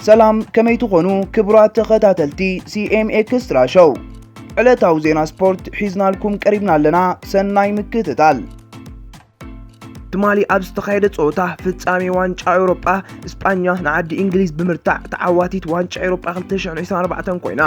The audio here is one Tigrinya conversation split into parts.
ሰላም ከመይ ትኾኑ ክቡራት ተኸታተልቲ ሲኤም ኤክስትራ ሾው ዕለታዊ ዜና ስፖርት ሒዝናልኩም ቀሪብና ኣለና ሰናይ ምክትታል ትማሊ ኣብ ዝተኻየደ ፀወታ ፍጻሜ ዋንጫ ኤውሮጳ እስጳኛ ንዓዲ እንግሊዝ ብምርታዕ ተዓዋቲት ዋንጫ ኤውሮጳ 2024 ኮይና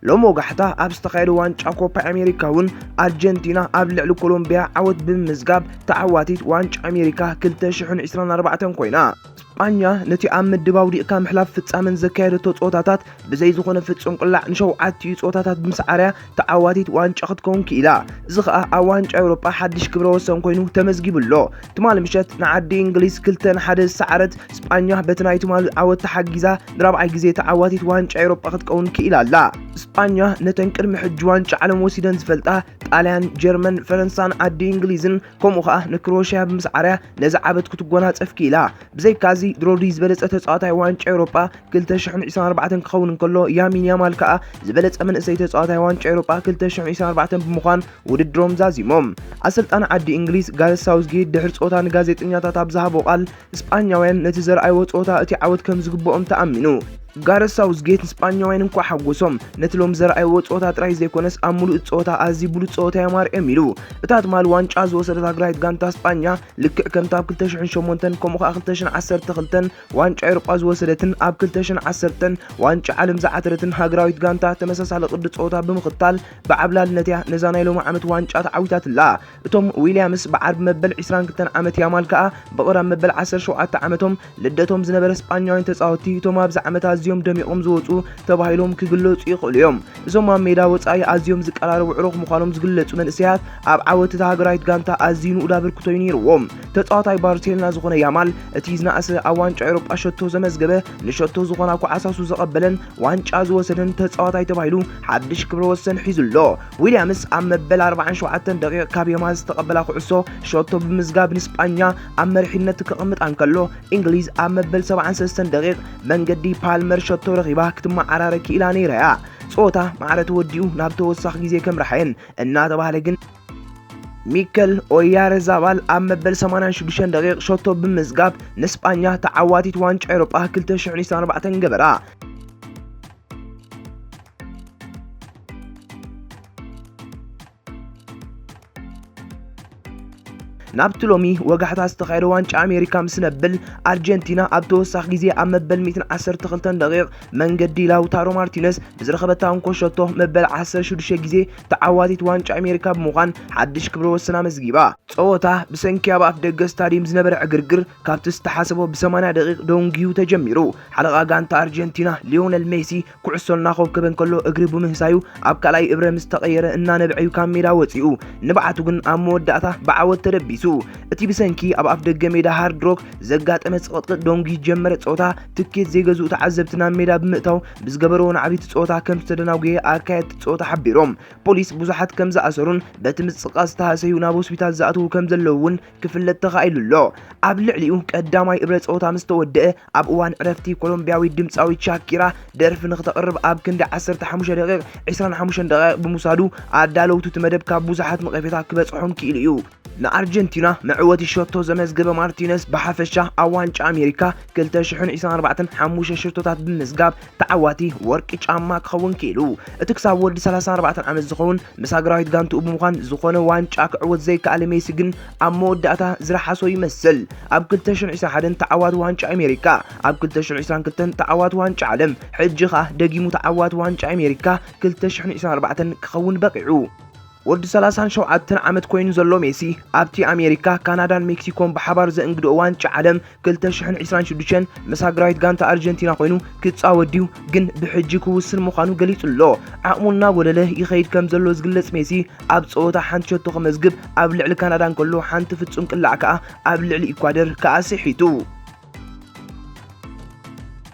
ሎም ወጋሕታ ኣብ ዝተኻየደ ዋንጫ ኮፓ ኣሜሪካ እውን ኣርጀንቲና ኣብ ልዕሊ ኮሎምቢያ ዓወት ብምምዝጋብ ተዓዋቲት ዋንጫ ኣሜሪካ 2024 ኮይና ስጳኛ ነቲ ኣብ ምድብ ኣውዲቕካ ምሕላፍ ፍጻመን ዘካየደቶ ጸወታታት ብዘይ ዝኾነ ፍጹም ቅላዕ ንሸውዓቲኡ ጸወታታት ብምስዓር'ያ ተዓዋቲት ዋንጫ ክትከውን ክኢላ። እዚ ከኣ ኣብ ዋንጫ ኤውሮጳ ሓድሽ ክብረ ወሰን ኮይኑ ተመዝጊቡ ኣሎ። ትማሊ ምሸት ንዓዲ እንግሊዝ ክልተ ን ሓደ ዝሰዓረት ስጳኛ በቲ ናይ ትማሊ ዓወት ተሓጊዛ ንራብዓይ ግዜ ተዓዋቲት ዋንጫ ኤውሮጳ ክትከውን ክኢላ ኣላ። ስጳኛ ነተን ቅድሚ ሕጂ ዋንጫ ዓለም ወሲደን ዝፈልጣ ጣልያን፣ ጀርመን፣ ፈረንሳን ዓዲ እንግሊዝን ከምኡ ከኣ ንክሮኤሽያ ብምስዓርያ ነዚ ዓበት ክትጎናጸፍ ክኢላ። ብዘይካዚ ድሮዲ ዝበለጸ ተጻዋታይ ዋንጫ ኤውሮጳ 2024 ክኸውን እንከሎ ያሚን ያማል ከኣ ዝበለጸ መንእሰይ ተጻዋታይ ዋንጫ ኤውሮጳ 2024 ብምዃን ውድድሮም ዛዚሞም። ኣሰልጣኒ ዓዲ እንግሊዝ ጋረዝ ሳውዝጌት ድሕሪ ጸወታ ንጋዜጠኛታት ኣብ ዝሃቦ ቃል ስጳኛውያን ነቲ ዘርኣይዎ ጸወታ እቲ ዓወት ከም ዝግብኦም ተኣሚኑ። ጋረዝ ሳውዝጌት ንስጳኛውያን እንቋዕ ሓጎሶም፣ ነቲ ሎሚ ዘርኣይዎ ጸወታ ጥራይ ዘይኮነስ ኣብ ምሉእ እቲ ጸወታ ኣዝዩ ብሉጽ ጸወታ እዮም ኣርእዮም ኢሉ። እታ ትማሊ ዋንጫ ዝወሰደት ሃገራዊት ጋንታ ስጳኛ፣ ልክዕ ከምታ ኣብ ክልተ ሽሕን ሸሞንተን ከምኡ ከኣ ክልተ ሽሕን ዓሰርተ ክልተን ዋንጫ ኤውሮጳ ዝወሰደትን ኣብ ክልተ ሽሕን ዓሰርተን ዋንጫ ዓለም ዝዓተረትን ሃገራዊት ጋንታ ተመሳሳሊ ቅዲ ጸወታ ብምኽታል ብዓብላልነት'ያ ነዛ ናይ ሎሚ ዓመት ዋንጫ ተዓዊታትላ። እቶም ዊልያምስ ብዓርቢ መበል ዕስራን ክልተን ዓመት ያማል ከኣ ብቕረብ መበል ዓሰርተ ሸውዓተ ዓመቶም ልደቶም ዝነበረ ስጳኛውያን ተጻወትቲ እቶም ኣብዚ ዓመት ኣዝዮም ደሚቖም ዝወጹ ተባሂሎም ክግለጹ ይኽእሉ እዮም። እዞም ኣብ ሜዳ ወጻኢ ኣዝዮም ዝቀራረቡ ዕሩኽ ምዃኖም ዝግለጹ መንእሰያት ኣብ ዓወት እታ ሃገራዊት ጋንታ ኣዝዩ ንኡድ ኣበርክቶ እዩ ነይርዎም። ተጻዋታይ ባርሴሎና ዝኾነ ያማል እቲ ዝነኣሰ ኣብ ዋንጫ ኤውሮጳ ሸቶ ዘመዝገበ፣ ንሸቶ ዝኾና ኳዓሳሱ ዘቐበለን ዋንጫ ዝወሰደን ተጻዋታይ ተባሂሉ ሓድሽ ክብረ ወሰን ሒዙ ኣሎ። ዊልያምስ ኣብ መበል 47 ደቂቕ ካብ የማን ዝተቐበላ ኩዕሶ ሸቶ ብምዝጋብ ንስጳኛ ኣብ መሪሕነት ከቐምጣ እንከሎ እንግሊዝ ኣብ መበል 73 ደቂቕ መንገዲ ፓልመር ሸቶ ረኺባ ክትመዓራረ ክኢላ ነይራ እያ። ጸወታ ማዕረ ተወዲኡ ናብ ተወሳኺ ግዜ ከምራሐየን እናተባህለ ግን ሚከል ኦያረዛባል ኣብ መበል 86 ደቂቕ ሸቶ ብምዝጋብ ንስጳኛ ተዓዋቲት ዋንጫ ኤሮጳ 2024 ገበራ። ናብቲ ሎሚ ወጋሕታ ዝተኻየደ ዋንጫ ኣሜሪካ ምስ ነብል ኣርጀንቲና ኣብ ተወሳኺ ግዜ ኣብ መበል 112 ደቂቕ መንገዲ ላውታሮ ማርቲነስ ብዝረኸበታ እንኮ ሸቶ መበል 16 ግዜ ተዓዋቲት ዋንጫ ኣሜሪካ ብምዃን ሓድሽ ክብረ ወሰን ኣመዝጊባ። ጸወታ ብሰንኪ ኣብ ኣፍ ደገ ስታዲየም ዝነበረ ዕግርግር ካብቲ ዝተሓሰቦ ብ80 ደቂቕ ደንጉዩ ተጀሚሩ። ሓለቓ ጋንታ ኣርጀንቲና ሊዮነል ሜሲ ኩዕሶ እናኾብከበ እንከሎ እግሪ ብምህሳዩ ኣብ ካልኣይ እብረ ምስ ተቐየረ እናነበዐዩ ካብ ሜዳ ወፂኡ። ንብዓቱ ግን ኣብ መወዳእታ ብዓወት ተደቢሱ። እቲ ብሰንኪ ኣብ ኣፍደገ ሜዳ ሃርድ ሮክ ዘጋጠመ ፅቕጥቅጥ ዶንጊ ዝጀመረ ፀወታ ትኬት ዘይገዝኡ ተዓዘብቲ ናብ ሜዳ ብምእታው ብዝገበርዎ ናዕቢ እቲ ፀወታ ከም ዝተደናጎየ ኣካየድቲ ፀወታ ሓቢሮም። ፖሊስ ብዙሓት ከም ዝኣሰሩን በቲ ምፅቕቓፅ ዝተሃሰዩ ናብ ሆስፒታል ዝኣትዉ ከም ዘለዉ እውን ክፍለጥ ተኻኢሉ ኣሎ። ኣብ ልዕሊኡ ቀዳማይ እብረ ጸወታ ምስ ተወድአ፣ ኣብ እዋን ዕረፍቲ ኮሎምብያዊት ድምጻዊት ሻኪራ ደርፊ ንኽተቕርብ ኣብ ክንዲ ዓሰርተ ሓሙሽተ ደቒቕ፣ ዕስራን ሓሙሽተን ደቓይቕ ብምውሳዱ ኣዳለውቱ እቲ መደብ ካብ ብዙሓት ነቐፌታ ክበጽሖም ክኢሉ እዩ። ንኣርጀንቲና መዕወቲ ሸቶ ዘመዝገበ ማርቲነስ ብሓፈሻ ኣብ ዋንጫ ኣሜሪካ ክልተ ሽሕን ዕስራን ኣርባዕተን ሓሙሽተ ሸቶታት ብምምዝጋብ ተዓዋቲ ወርቂ ጫማ ክኸውን ክኢሉ። እቲ ክሳብ ወዲ ሰላሳን ኣርባዕተን ዓመት ዝኸውን ምስ ሃገራዊት ጋንትኡ ብምዃን ዝኾነ ዋንጫ ክዕወት ዘይከኣለ ሜሲ ግን ኣብ መወዳእታ ዝረሓሶ ይመስል። ኣብ ክልተ ሽሕን ዒስራን ሓደን ተዓዋቲ ዋንጫ ኣሜሪካ፣ ኣብ ክልተ ሽሕን ዒስራን ክልተን ተዓዋቲ ዋንጫ ዓለም፣ ሕጂ ከኣ ደጊሙ ተዓዋቲ ዋንጫ ኣሜሪካ ክልተ ሽሕን ዒስራን ኣርባዕተን ክኸውን በቒዑ። ወዲ ሰላሳን ሸውዓተን ዓመት ኮይኑ ዘሎ ሜሲ ኣብቲ ኣሜሪካ፣ ካናዳን ሜክሲኮን ብሓባር ዘእንግድኦ ዋንጫ ዓለም ክልተ ሽሕን ዒስራን ሽዱሽተን ምስ ሃገራዊት ጋንታ ኣርጀንቲና ኮይኑ ክጻወት ድዩ ግን ብሕጂ ክውስን ምዃኑ ገሊጹ ኣሎ። ዓቕሙ እናጎደለ ይኸይድ ከም ዘሎ ዝግለጽ ሜሲ ኣብ ጸወታ ሓንቲ ሸቶ ክመዝግብ ኣብ ልዕሊ ካናዳ እንከሎ ሓንቲ ፍጹም ቅላዕ ከኣ ኣብ ልዕሊ ኢኳደር ከኣ ስሒቱ።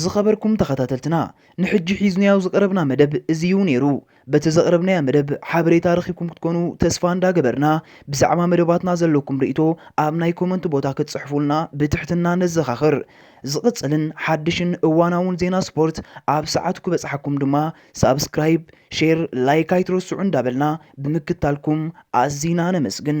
ዝኸበርኩም ተኸታተልትና ንሕጂ ሒዝናዮ ዝቐረብና መደብ እዚ እዩ ነይሩ። በቲ ዘቕረብናዮ መደብ ሓበሬታ ረኺብኩም ክትኮኑ ተስፋ እንዳገበርና ብዛዕባ መደባትና ዘለኩም ርእይቶ ኣብ ናይ ኮመንት ቦታ ክትጽሕፉልና ብትሕትና ነዘኻኽር። ዝቕጽልን ሓድሽን እዋናውን ዜና ስፖርት ኣብ ሰዓቱ ክበጽሓኩም ድማ ሳብስክራይብ፣ ሼር፣ ላይክ ኣይትረስዑ እንዳበልና ብምክታልኩም ኣዚና ነመስግን።